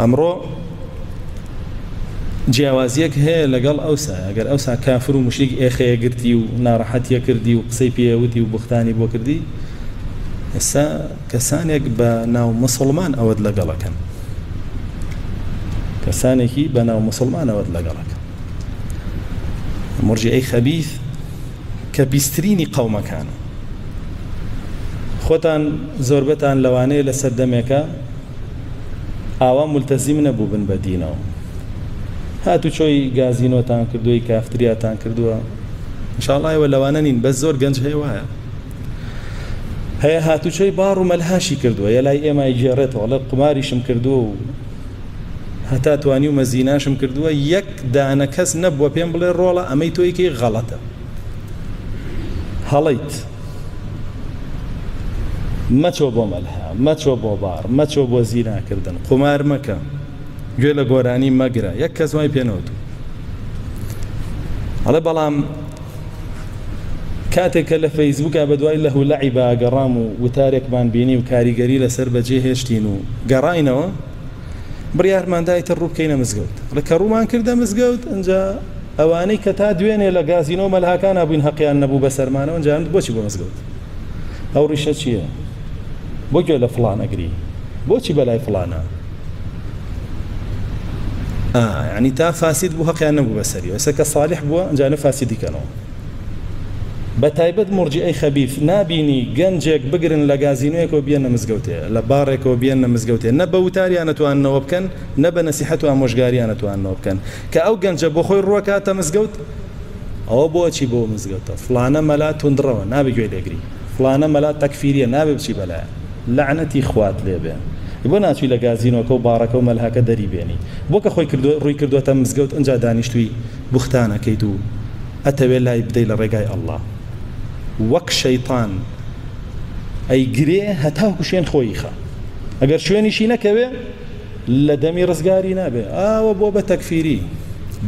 ئەمڕۆ جیاوازیەک هەیە لەگەڵ ئەوسا ئەگەر ئەوسا کافر و مشریک ئێخەیە گرتی و ناڕەحەتیە کردی و قسەی پێوتی و بختانی بۆ کردی ئێستا کەسانێک بە ناو مسلمان ئەوەت لەگەڵەکەن کەسانێکی بە ناو مسلمان ئەوەت لەگەڵەکە مرجی ئەی خەبیث کە بیسترینی قەومەکانە خۆتان زۆربەتان لەوانەیە لە سەردەمێکە ئاوا ملتەزیم نەبووبن بە دینەوە هاتوچۆی گازینۆتان کردووی کافتریاتان کردووە انشاءڵڵا ئێوە لەوانە نین بەس زۆر گەنج هەیە وایە هەیە هاتوچۆی باڕ و مەلهاشی کردووە یە لای ئێمای گێڕێتەوە لە قماریشم کردووە و هەتا توانی و مەزیناشم کردووە یەک دانە کەس نەبووە پێم بڵێ ڕۆڵە ئەمەی تۆیکەی غەڵەتە هەڵیت مەچۆ بۆ مەلهە، مەچۆ بۆ باڕ، مەچۆ بۆ زینا کردن، قومار مەکە، گوێ لە گۆرانی مەگرە، یەک کەس وای پێ نەوتووە. ئەڵێ بەڵام کاتێک کە لە فەیسبووکا بە دوای لەهو لەعیبا گەڕام و وتارێکمان بینی و کاریگەری لەسەر بەجێ هێشتین و گەڕاینەوە، بڕیارماندا ئیتر ڕوو بکەینە مزگەوت ڕکە ڕوومان کردە مزگەوت ئەجا ئەوانەی کە تا دوێنێ لە گازینۆ مەلهاکان بووین هەقیان نەبوو بە سەرمانەوە ئەنجام بۆچی بۆ مزگەوت ئەو ڕیشە چییە بۆ گوێ لە فڵان ئەگری بۆچی بەلای فڵانە ینی تا فاسید بوو هەقیان نەبوو بەسەری ئەوسە کە ساالح بووە ئەنجانە فاسیدیکەنەوە بە تایبەت مورجیئەی خەبیث نابینی گەنجێک بگرن لە گازینۆیەکەوە بیەنە مزگەوتێ لە باڕێکەوە بیەنە مزگەوتێ نە بە وتاریانە تواننەوە بکەن نە بە نەسیحەت و ئامۆژگاریانە تواننەوە بکەن کە ئەو گەنجە بۆ خۆی ڕوەکاتە مزگەوت ئەوە بۆ ئەچی بۆ مزگەوتە فڵانە مەلا توندڕەوە نابێ گوێی لێگری فڵانە مەلا تەکفیریە نابێ بچی بەلایە لەعنەتی خوات لێبێ بۆ ناچوی لە گازینۆکە و باڕەکە و مەلهەکە دەری بێنی بۆ کە خۆی کردوە ڕووی کردوەتە مزگەوت ئنجا دانیشتوی بوختان ئەکەیت و ئەتەوێ لای بدەی لە ڕێگای اللە وەک شەیتان ئەیگرێ هەتاکو شوێن خۆیی خا ئەگەر شوێنیشی نەکەوێ لە دەمی ڕزگاری نابێ ئاوە بۆ بە تەکفیری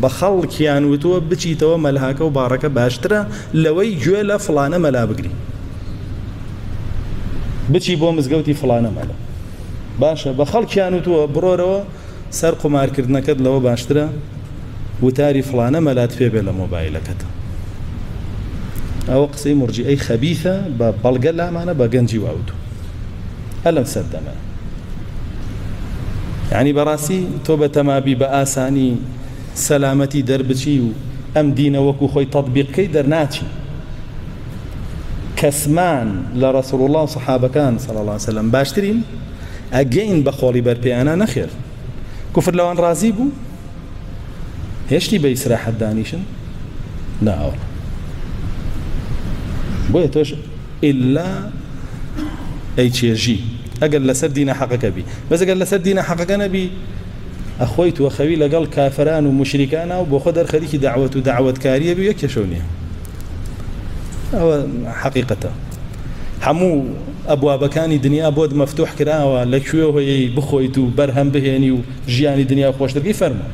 بە خەڵکیان وتووە بچیتەوە مەلهاکە و باڕەکە باشترە لەوەی گوێ لە فلانە مەلا بگری بچی بۆ مزگەوتی فلانە مەلا باشە بە خەڵکیان وتووە بڕۆرەوە سەر قومارکردنەکەت لەوە باشترە وتاری فڵانە مەلات پێ بێ لە مۆبایلەکەت ئەوە قسەی مرجئەی خەبیثە بە بەڵگە لامانە بە گەنجی واوتو ئەلەم سەردەمە یعنی بەڕاستی تۆ بە تەمابی بە ئاسانی سەلامەتی دەربچی و ئەم دینە وەکو خۆی تەطبیقکەی دەرناچی کەسمان لە ڕسول الله و صحابەکان صلی الله وسلم باشترین ئەگەین بە خۆڵی بەرپێیانە نەخێر کوفر لەوان ڕازی بوو هێشتی بە ئیسراحەت دانیشن ناوە بۆیە تۆش ئللا ئەی چێژی ئەگەر لەسەر دینە حەقەکە بی بەزگەر لەسەر دینە حەقەکە نەبی ئەخۆی توە خەوی لەگەڵ کافران و مشریکانە و بۆ خۆ دەرخەریکی داوەت و داوەتکاریە بێ کێشەو نییە ئەوە حەقیقەتە هەموو ئەبوابەکانی دنیا بۆت مەفتوح کراوە لە کوێوهیی بخۆیت و بەرهەم بهێنی و ژیانی دنیا خۆشتر بکەی فەرموو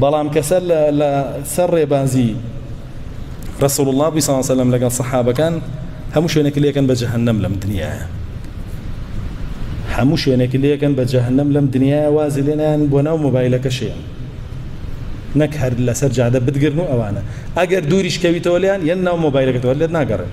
بەڵام کەسە لە لە سەر ڕێبازی رسول الله بی صلی سلم لەگەڵ صحابەکان هەموو شوێنێک لێکن بە جەهەنەم لەم دنیایە هەموو شوێنێک لێکن بە جەهەنەم لەم دنیایە وازی لێنیان بۆ ناو مۆبایلەکە شێن نەک هەر لەسەر جادە بدگرن و ئەوانە ئەگەر دووریش کەویتەوە لیان یەن ناو مۆبایلەکەتەوە لێت ناگەڕێن